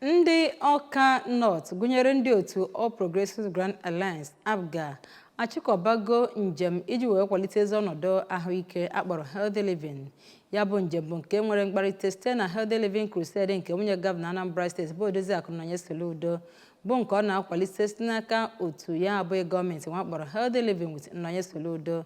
Ndị Ọka North gụnyere ndị otu All Progressives Grand Alliance, APGA, achịkọbago njem iji wee kwalite ezi ọnọdụ ahụike a kpọrọ Healthy Living. Ya bụ njem bụ nke nwere mkpalite site na Healthy Living Crusade nke nwunye gọvanọ Anambra steeti bụ Odoziakụ Nonye Soludo bụ nke ọ na-akwalite site n'aka otu ya abụghị gọọmenti nwe a kpọrọ Healthy Living with Nonye Soludo.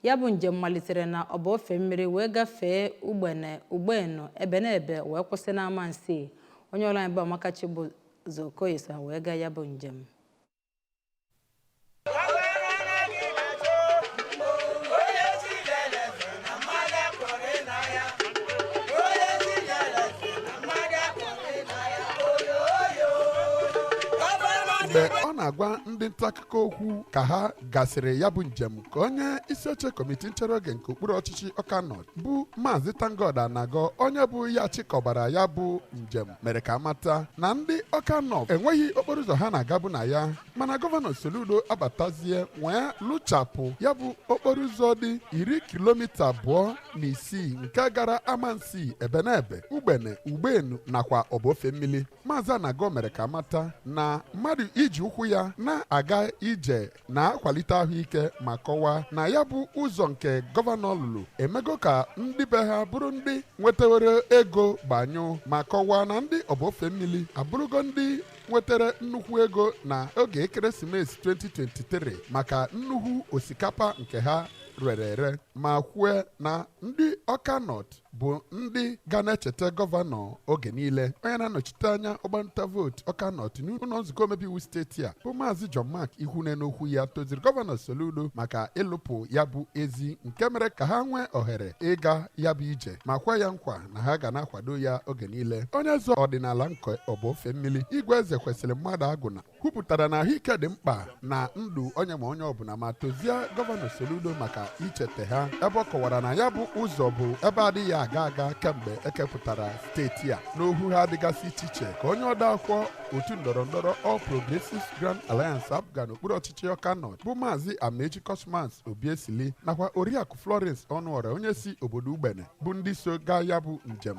Ya bụ njem malitere na Ọba Ofemmiri wee gafee Ugbene, Ugbenu, Ebenebe wee kwụsị n'Amansi. Onye ọrụ anyị bụ Amaka Chibụzọ Okoye so ha wee gaa ya bụ njem. mgbe ọ na-agwa ndị nta akụkọ okwu ka ha gasịrị ya bụ njem ka onye isi oche kọmiti nchere oge nke okpuru ọchịchị Ọka North bụ maazị ThankGod Anagọ onye bụ ya chịkọbara ya bụ njem mere ka a mata na ndị Ọka North enweghị okporo ụzọ ha na-agabu na ya mana gọvanọ soludo abatazie wee lụchapụ ya bụ okporo ụzọ dị iri kilomita abụọ na isii nke gara amansi ebenebe ugbene ugbenu nakwa Ọba Ofemmili Maazị Anagọ mere ka a mata na mmadụ iji ụkwụ ya na-aga ije na-akwalite ahụike ma kọwaa na ya bụ ụzọ nke gọvanọ lụrụ emego ka ndị be ha bụrụ ndị nwetawere ego gbanyụ ma kọwaa na ndị Ọba Ofemmili abụrụgo ndị nwetara nnukwu ego na oge ekeresimesi 2023 maka nnukwu osikapa nke ha rere ere ma kwue na ndị Ọka North bụ ndị ga na-echeta gọvanọ oge niile onye na-anọchite anya ọgbanta vootu Ọka North n'ụlọ nzukọ omebe iwu steeti a bụ maazị John Mark Ikwunne n'okwu ya toziri gọvanọ Soludo maka ịlụpụ ya bụ ezi nke mere ka ha nwee ohere ịga ya bụ ije ma kwe ya nkwa na ha ga na-akwado ya oge niile onye eze ọdịnala nke Ọba Ofemmili Igwe Ezekwesịrị Mmadụagwụna kwupụtara na ahụike dị mkpa na ndụ onye ma onye ọbụla ma tozie gọvanọ Soludo maka icheta ha ebe ọ kọwara na ya bụ ụzọ bụ ebe a dịghị aga aga kemgbe e kepụtara steeti a n'okwu ha dịgasị iche iche ka onye ode akwụkwọ otu ndọrọ ndọrọ All Progressives Grand Alliance APGA n'okpuru ọchịchị Ọka North bụ maazị Amaechi Cosmas Obiesili nakwa Oriakụ Florence Ọnụọra onye si obodo Ugbene bụ ndị so gaa ya bụ njem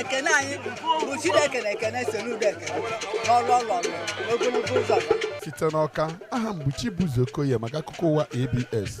ekene anyị bụ chineke na ekene Soludo ekene n'ọlụ ọlụ n'ogologo ụzọ ya site n'Ọka aha m bụ chibuzo okoye maka akụkọ ụwa abs